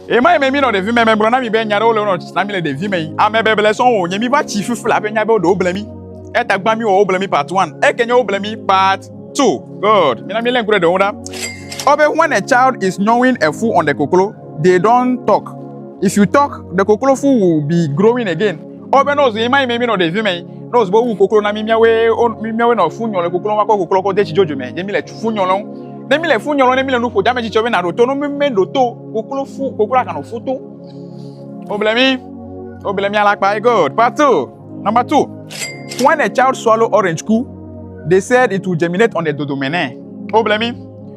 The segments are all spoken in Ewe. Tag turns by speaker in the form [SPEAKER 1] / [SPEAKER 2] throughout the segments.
[SPEAKER 1] Ɣemaɣi yi me mi nɔ ɖevi me megblɔ na mi be nya ɖewo le wonɔ na mi le ɖevi me yi. Ame beble sɔn wo nye mi va tsi fifi le aƒe nya be wo ɖewo ble mi. Eya ta gbã mi wɔ wo ble mi part one. Eke nye wo ble mi part two. Good. Mi na mi le ŋku ɖe ɖewo ɖa. Wo be when a child is gnawing a fool on the koklo, they don't talk. If you talk, the koklo fool will be growing again. Ɔ be no zi mai me mi no ɖevi me no zi bo wu koklo na mi miawe o mi miawe no fu nyɔlɔ koklo wa ko koklo ko de chijojo me je mi le fu nyɔlɔ ne mi le fu nyɔlɔ ne mi le nu ƒo dame chichɔ be na ɖo to no mi me ɖo to koklo fu koklo akan fu to o ble mi o ble mi ala kpa god part 2 number 2 when a child swallow orange ku they said it will germinate on the dodo mene o ble mi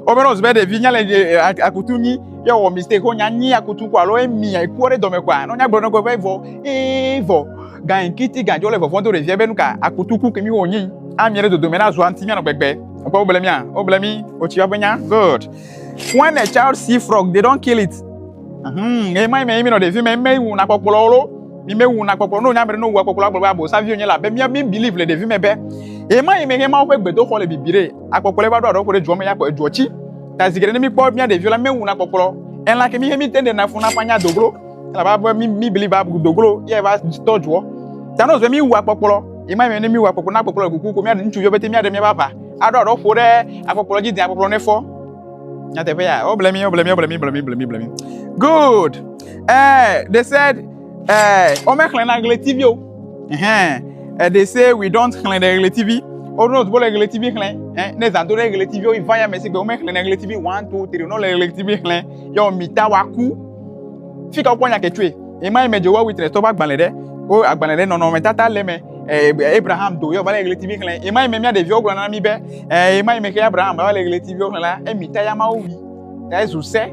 [SPEAKER 1] Wobena wòzu be ɖevi nya le akutu nyi ye wɔ mistake ko nya nyi akutu ko alo emi ekuɔ ɖe dɔme koa no nya gblɔ nɔgbe be vɔ ee vɔ gan kiti gan jɔ le vɔvɔ do ɖevia be nuka akutu ku kemi wo nyi ami ɖe dodome na zua ŋuti mianɔ gbegbe ekpɔ wo ble mia wo ble mi o tsi ƒe nya good when a child see frog they don't kill it hmm e mai mai mi nɔ ɖevi mai mai wu na kpɔkplɔ wo mi me wu na kpɔkplɔ no nya mere no wu kpɔkplɔ agblɔ be abo savi o nye la be mi mi believe le ɖevi me be e mai mai ma wo ƒe gbedoxɔ le bibi ɖe Akpɔkplɔ eva ɖo aɖɔ ko ɖe dzuɔ me ya kpɔ edzuɔ tsi. Ta zi geɖe ne míkpɔ mía ɖeviwo la, míewu na kpɔkplɔ. Elã ke míhe míte ɖe na fún na ƒanya doglo. Elabe ave mí mí bli va bu doglo ye ava tɔ dzuɔ. Ta ne wòzɔe míwu akpɔkplɔ. Yi ma mɛ ne míwu akpɔkplɔ ne akpɔkplɔ le kuku ko míaɖe ŋutsuviwo bete míaɖe míaƒe aʋa aɖo aɖɔ ƒo ɖe akpɔkplɔ dzi de akpɔkplɔ ne fɔ. Nyateƒe ya. Woble mí, woble mí, woble mí, ble mí, ble mí, ble mí. Good. Eh, they said Eh, ome xlẽ na ɣletivi o. Eh, eh, they say we don't xlẽ ɖe ɣletivi. O no tubo le ɣletivi xlẽ. Eh, ne zando ɖe ɣletivi o iva ya me sigbe ome xlẽ na ɣletivi one two three no le ɣletivi xlẽ. Yo mita wa ku. Fika o kponya ketsue. Ema ime Jehovah Witness to ba gbalẽ ɖe. O agbalẽ ɖe nɔnɔ me tata le me. Eh, Abraham do yo va le ɣletivi xlẽ. Ema ime mia ɖeviwo gblɔ na mi be, eh, ema ime ke Abraham va le ɣletivi xlẽ la, emita ya ma o wi. Ta ezu se.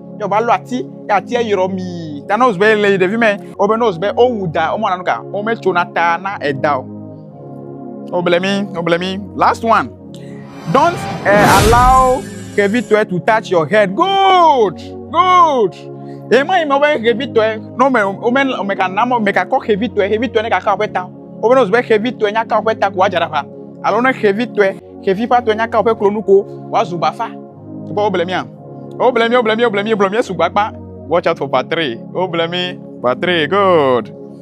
[SPEAKER 1] yɛ wòva lɔ ati yɛ atia yrɔ mii ta ne wozɔ yɛ le yi ɖevi mɛ wobe ne wozɔ be wowu da womɔna nu ka wometsona ta na eda o woble mi woble mi last one don't uh, allow kevitɔe to touch your head good good ema yi me wobe kevitɔe ne wome wome wome ka na wome ka kɔ kevitɔe kevitɔe ne ka ka woƒe ta wobe ne wozɔ be kevitɔe nya ka woƒe ta ko woadza ɖe aƒa alo ne kevitɔe kevi ƒe atɔe nya ka woƒe klonu ko woazu bafa Kpɔ wobla mía. Wobla mí, wobla mí, wobla mí, wobla mí sugbɔ akpa. Watch out for part 3. Wobla mí. Part 3, good.